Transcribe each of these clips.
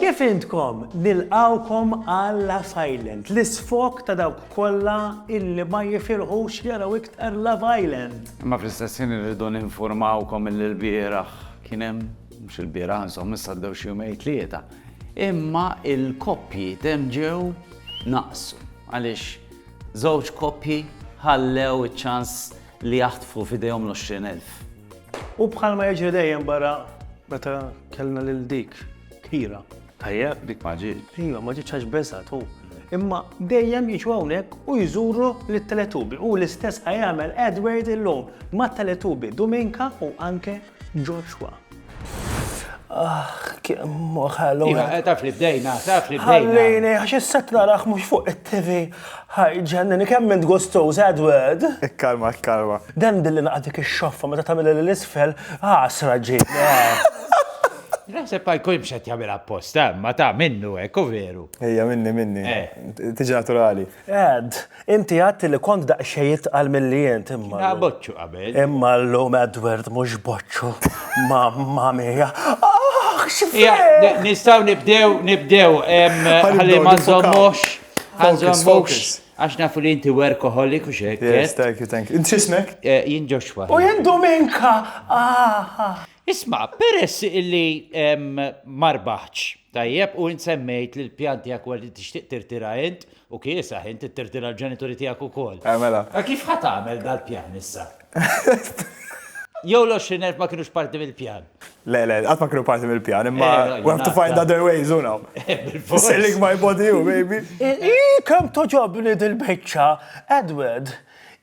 Kif intkom? Nilqgħukom għala Silent, l-isfog ta' dawk kollha illi ma jifirħux jaraw iktar Love Island. Imma fl-istess ħin irridu ninfurmawkom illi lbieraħ kien hemm, mhux ilbieraħ insomma issa għaddew xi jumejn tlieta, imma l-koppji temm ġew naqsu għaliex żewġ koppji ħallew iċ-ċans li jaħtfu f'idejhom l-għoxrin elf. U bħalma jiġri dejjem barra meta kellna lil dik kira. Tajjeb? Dik ma ġiet. Iva, ma ġietx għax beżgħet hu. Imma dejjem jiġu hawnhekk u jżuru lit-Teletubi. U l-istess ħajamel Edward illum mat-Teletubi Dominka u anke Joshua. Ah, kemm ħallu. Iva, eh, taf li bdejna, taf li bdejna. Ħallini, għax s-set narax mux fuq il-TV. Ħajġenni, kemm minn gustoz, Edward. Ikkalma, ikkalma. Dan billi naqdik il-xoffa, meta tamil l-isfel, għasra ah, ġib. Naħseb pa jkun mxet jagħmel apposta, ma ta' minnu hekk u veru. Ejja minni minni. Eh. Tiġi naturali. Ed, Inti għadt li kont daqsxejn itqal milli int imma. Kien ha boċċu qabel. Imma llum Edward mhux boċċu. Mamma mia. Aħ! X'frejk! Nistgħu nibdew, nibdew, ħalli ma nżommux, ma nżommux, għax nafu li inti workaholic u x'hekk. Yes, thank you, thank you. Int x'ismek? Jien Joshua. U jien Dominka! Aha! Isma', peress illi ma rbaħtx, tajjeb, u int semmejt li l-pjan tiegħek huwa li tixtieq tirtira int, U kiesaħ, int tirtira l-ġenituri tiegħek ukoll. Eh, mela. Ma kif ħa tagħmel dal-pjan issa? Jew l-20,000 ma kienux parti mill-pjan. Le, le, qatt ma kienu parti mill-pjan, imma eh, we have to find other ways, you know. Selling my body, you, baby. Kem toġobni dil-bicċa, Edward.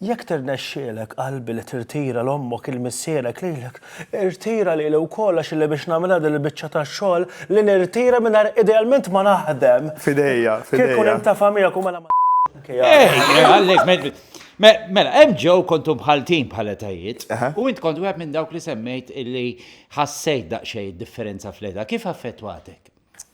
Jekk tirnexxielek, qalbi, li tirtira 'l ommok, 'il missierek, lilek, irtira lili wkoll għax illi biex nagħmilha din il-biċċa ta' xogħol li nirtira mingħajr idealment ma naħdem. F'idejja, f'idejja. Kieku nintafa' miegħek u mela ma Mela, hemm ġew kontu bħaltin bħal etajiet u int kont wieħed minn dawk li semmejt illi ħassejt daqsxejn id-differenza fl-età. Kif affettwatek?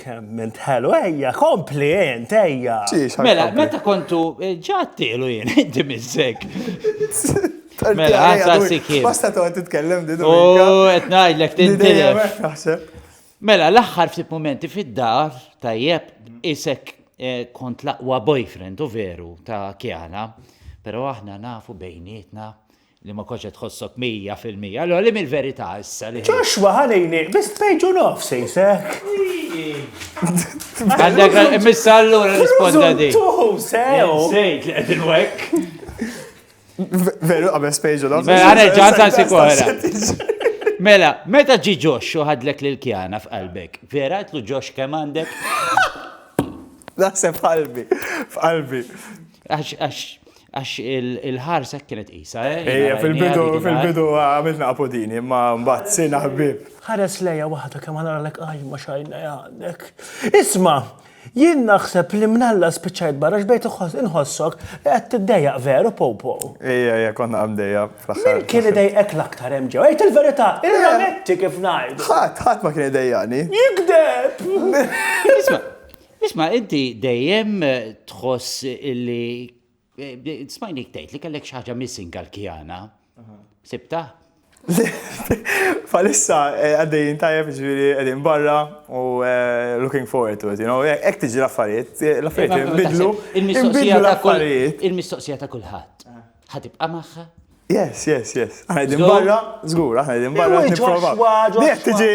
Kemm int ħelu, ejja, kompli int, ejja. Mela, meta kontu eh, ġattilu jien, inti mizzek. Mela, għasa sikim. Basta tu għed titkellem di U għed najdlek tintilef. Mela, l-axħar ftit momenti fid-dar, tajjeb, isek eh, kont laqwa boyfriend, u veru, ta' kjana, pero aħna nafu bejnietna Li ma kontx qed tħossok mija fil-mija. Allura li mill-verità issa li. Joshua ħa l-għajnejh biss page u nofs jisek. Għandek missa allura risponda di. Tuħu sew. Sejt li qed inwek. Veru qabel page u nofs. Mela nerġa' ntansi koħra. Mela, meta ġi ġox u ħadlek lil kjana f'qalbek, vera għetlu ġox kemm għandek? Naħseb f'qalbi, f'qalbi. Għax, għax, Għax il-ħarsa kienet qisha, eh? Ejja, fil-bidu, fil-bidu għamilna apodini, imma mbagħad sina ħbieb. Ħares lejja waħda kemm ħanaralek qajma xajna għandek. Isma', jien naħseb li mnalla spiċċajt barra x'bejt inħossok li qed tiddejjaq veru popo. Ejja, ejja, konna għamdejja fl-aħħar. Min kien idejqek l-aktar hemm ġew? Ejt il-verità, irrametti kif ngħid. Ħadd, ħadd ma kien idejjaqni. Jikdeb! Isma', Isma' inti dejjem tħoss illi smajnik tgħid li kellek xi ħaġa missing għall-kjana. Sibta? Falissa eh, għaddejjin tajjeb ġviri għedin barra u eh, looking forward to it, you know, ek tiġi l-affarijiet, eh, l-affarijiet imbidlu, imbidlu l-affarijiet. Il-mistoqsija ta' kullħat. Ħatibqa' magħha? Yes, yes, yes. Aħna din barra, żgur, aħna din barra. Jekk tiġi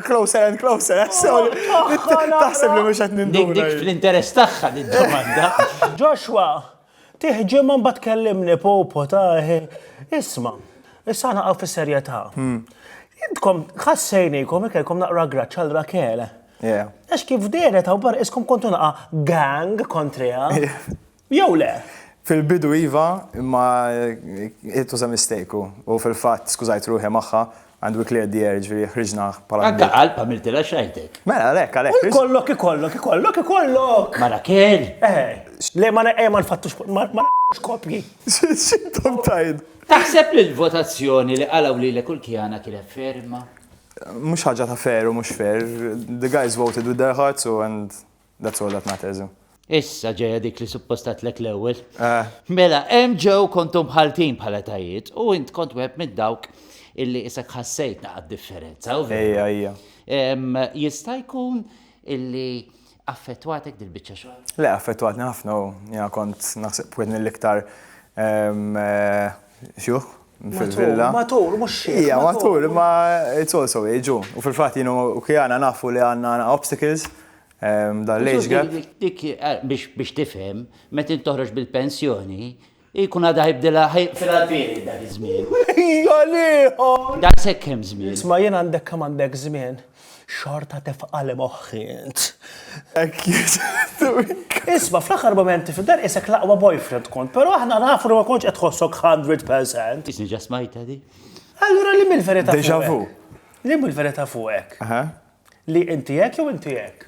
closer and closer, taħseb li mhux qed nindur. Dik fl-interess tagħha din domanda. Joshua, tiħġim ma mbagħad kellimni popo ta' isma'. Issa naqgħu fis-serjetà. Hmm. Intkom ħassejnikom ikelkom naqra graċċ għal Rakel. Għax kif deret hawn bar iskom kontu naqa' gang kontriha. jew le? Fil-bidu iva, imma it was a mistake u, u fil-fatt skużajt ruħi magħha and we cleared the air, ġifieri ħriġna bħala. Anke qalb għamiltilha x'għajtek. Mela għalhekk, għalhekk. U jkollok, ikollok, ikollok, ikollok! Ma Rakel! Eh, le ma eh, ma nfattux, ma ma kopji. X'intom tgħid? Taħseb li l-votazzjoni li qalgħu lilek u l-kjana kienet ferma? Mhux ħaġa ta' fair u mhux fair. The guys voted with their hearts u and That's all that matters, hu. Issa ġejja dik li suppost għadtlek l-ewwel. Eh. Mela, hemm ġew kontu mħalltin bħala tajiet u int kont wieħed minn dawk illi isek ħassejt naqgħad differenza. Ejja, ejja. Jista' jkun illi affettwatek dil-biċċa xogħol? Le, affettwatni ħafna u ja kont naħseb wieħed mill-iktar Xjuħ? Fil-villa. Matur, mux xie. Ija, matur, ma it's also age, u fil-fat jinu u kjana nafu li għanna obstacles ehm, dan l-age gap. Dik eh, biex tifhem, meta toħroġ bil-pensjoni, jkun għadha jibdilha fil-għalfieri dak iż-żmien. Jolieħom! Da sekkem żmien. Isma' jien għandek kemm għandek żmien. Xorta tefqa li moħħi int. Hekk jgħid. Isma' fl-aħħar mumenti fid-dar qisek l-aqwa boyfriend kont, però aħna nafu li ma kontx qed tħossok 100%. Isni ġa smajta di. Allura li mill-verità fuqek? Deja vu. Li mill-verità fuqek? Aha. Li inti hekk jew inti hekk?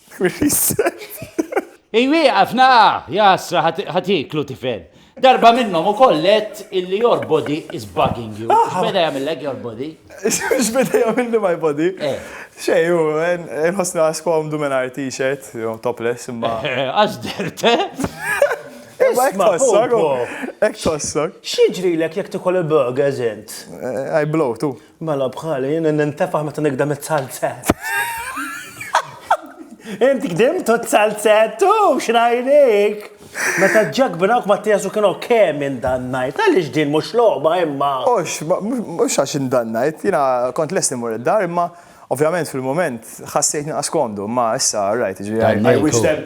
Iwieqaf naqa'! Jahasra ħadd ieklu tifel. Darba minnhom ukoll għedt illi your body is bugging you. X'beda jagħmillek your body? X'beda jagħmilli my body? Xejn, hu inħossni naqas komdu mingħajr t-shirt, jew topless imma. Għax dehrt, eh? Imma hekk tħossok. Hekk tħossok. X'jiġrilek jekk tikol il-burgers int? I blow, tu. Mela bħali, jien nintefaħ meta nikdem it-salzett. Inti kdimt u t-salzett u xrajnik. Meta ġak binawk ma t-tijasu kienu kemm indannajt, għalix din mux loba imma. Ux, mux għax indannajt, jina kont lest nimur id-dar imma ovvjament fil-moment ħassejt naqas komdu, ma issa rajt, I wish them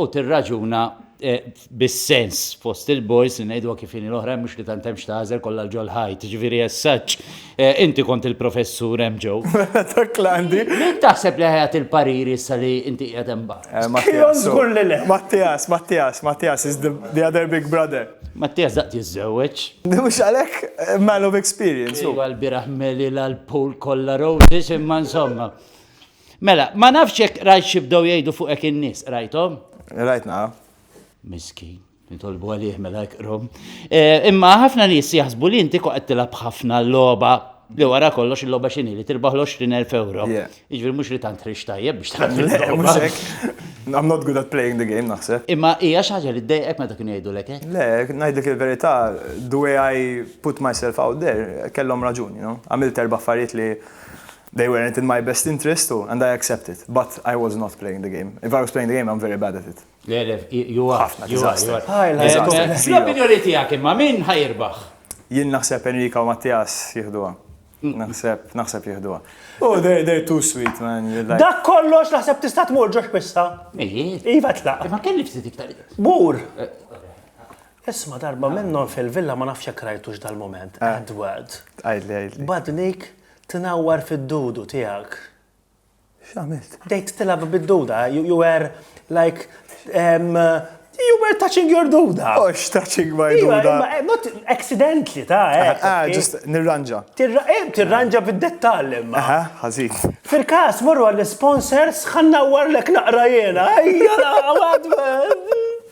u tirraġuna bis-sens fost il-boys li ngħiduha kif inhi l-oħrajn mhux li tant hemm x'tagħżel kollha l ġol ħajt. Ġifieri as such, eh, inti kont il-professur hemm ġew. Dak l-għandi. Min taħseb li ħajat il-pariri issa li inti qiegħed hemm barra? Eh, Mattias. Żgur li le. Mattias, Mattias, Mattias is the, the other big brother. Mattias daqt jiżżewweġ. Mhux għalhekk eh, man of experience. Iwa l-biraħ meli l-pool kollha roses imma insomma. Mela, ma nafx jekk rajt xi bdew jgħidu fuqek in-nies, qrajthom? Rajt naqra. Miskin, nitolbu għalih mela jqrom. Eh, imma ħafna nies jaħsbu li inti koqgħod tilgħab ħafna l-logħba li wara kollox il-logħba x'inhi li tirbaħ l-20,000 euro. Jiġri mhux li tant rix tajjeb biex tagħmel. I'm not good at playing the game naħseb. Imma hija xi ħaġa li ddejqek meta kienu jgħidu lek Le, ngħidlek il-verità, the way I put myself out there, kellhom raġuni, no? Għamilt erba' affarijiet li They weren't in my best interest u and I accept it. But I was not playing the game. If I was playing the game, I'm very bad at it. Le, le, you are. Ħafna, you are, you are. L-opinjoni tijak imma, min ħajirbaħ? Jien naħseb Enrika u Mattias jihduwa. Naħseb, naħseb jihduwa. Oh, they're, they're too sweet, man. Like... Dak kollox naħseb tista' tmur ġox pissa. Iva tlaq. Ma kelli ftit iktar. Bur. Eh. Isma darba minnhom fil-villa ma nafx jekk rajtux dal-moment. Ah. Edward. Għidli, għidli. Badnik Tnawwar fid-dudu tiegħek. X'għamilt? Bdejt tilgħab bid-duda, you were like um, You were touching your duda. Ox, oh, touching my duda. Eh, not accidentally, ta' eh. Ah, ah just nirranġa. Eh, tirranġa bid-dettall imma. Aha, ħazin. Fil-kas, morru għall-sponsors, ħanna warlek naqra jena. Ejja, għadba.